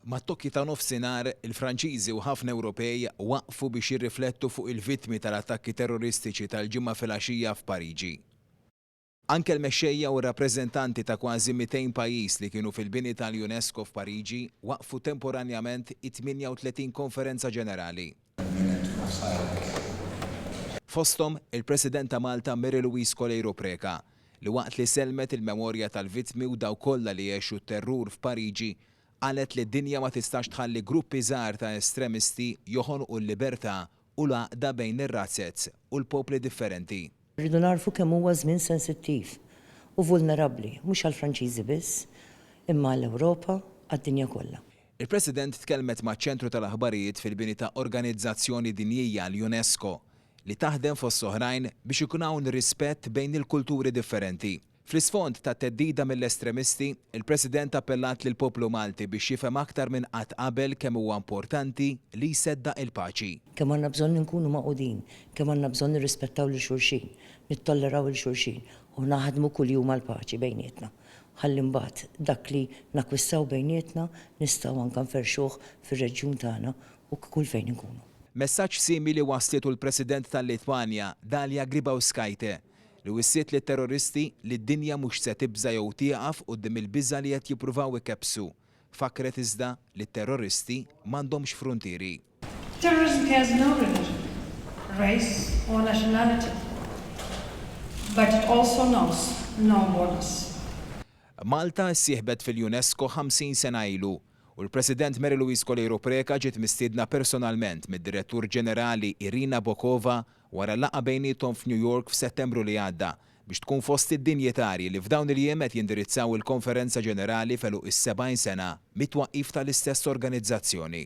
Mat-tokki ta' nofsinhar, il-Franċiżi u ħafna Ewropej waqfu biex jirriflettu fuq il-vittmi tal-attakki terroristiċi tal-Ġimgħa filgħaxija f'Pariġi. Anke l-mexxejja u r-rappreżentanti ta' kważi 200 pajjiż li kienu fil-bini tal-UNESCO f'Pariġi waqfu temporanjament it-38 Konferenza Ġenerali. Fosthom, il-President ta' Malta Mary Louise Coleiro Preca, li waqt li sellmet il-memorja tal-vittmi u dawk kollha li għexu t-terrur f'Pariġi, qalet li d-dinja ma tistax tħalli gruppi żgħar ta' estremisti joħonqu l-libertà u l-għaqda bejn ir-razzez u l-popli differenti. Irridu nagħrfu kemm huwa żmien sensittiv u vulnerabbli, mhux għall-Franċiżi biss, imma għall-Ewropa, għad-dinja kollha. Il-President tkellmet maċ-Ċentru tal-Aħbarijiet fil-bini ta' organizzazzjoni dinjija, l-UNESCO, li taħdem fost oħrajn biex ikun hawn rispett bejn il-kulturi differenti. Fl-isfond ta' theddida mill-estremisti, il-President appellat lill-poplu Malti biex jifhem aktar minn qatt qabel kemm huwa importanti li jseddaq il-paċi. Kemm għandna bżonn inkunu magħqudin, kemm għandna bżonn nirrispettaw lil xulxin, nittolleraw 'il xulxin u naħdmu kuljum għall-paċi bejnietna. ħalli mbagħad dak li nakkwistaw bejnietna nistgħu anke nferrxuh fir-reġjun tagħna u kull fejn inkunu. Messaġġ simili wasslitu l-President tal-Litwanja, Dalia Grybauskaite, li wissiet lit-terroristi li d-dinja mhux se tibża' jew tieqaf quddiem il-biża' li qed jippruvaw ikebbsu. Fakkret iżda li t-terroristi m'għandhomx fruntieri. Terrorism cares no religion, race or nationality but it also knows no borders. Malta ssieħbet fil-UNESCO 50 sena ilu u l-President Mary Louise Coleiro Preca ġiet mistiedna personalment mid-Direttur Ġenerali Irina Bokova wara laqgħa bejniethom f'New York f'Settembru li għadda biex tkun fost id-dinjitarji li f'dawn il-jiem qed jindirizzaw il-Konferenza Ġenerali f'għeluq is-70 sena mit-twaqqif tal-istess organizzazzjoni.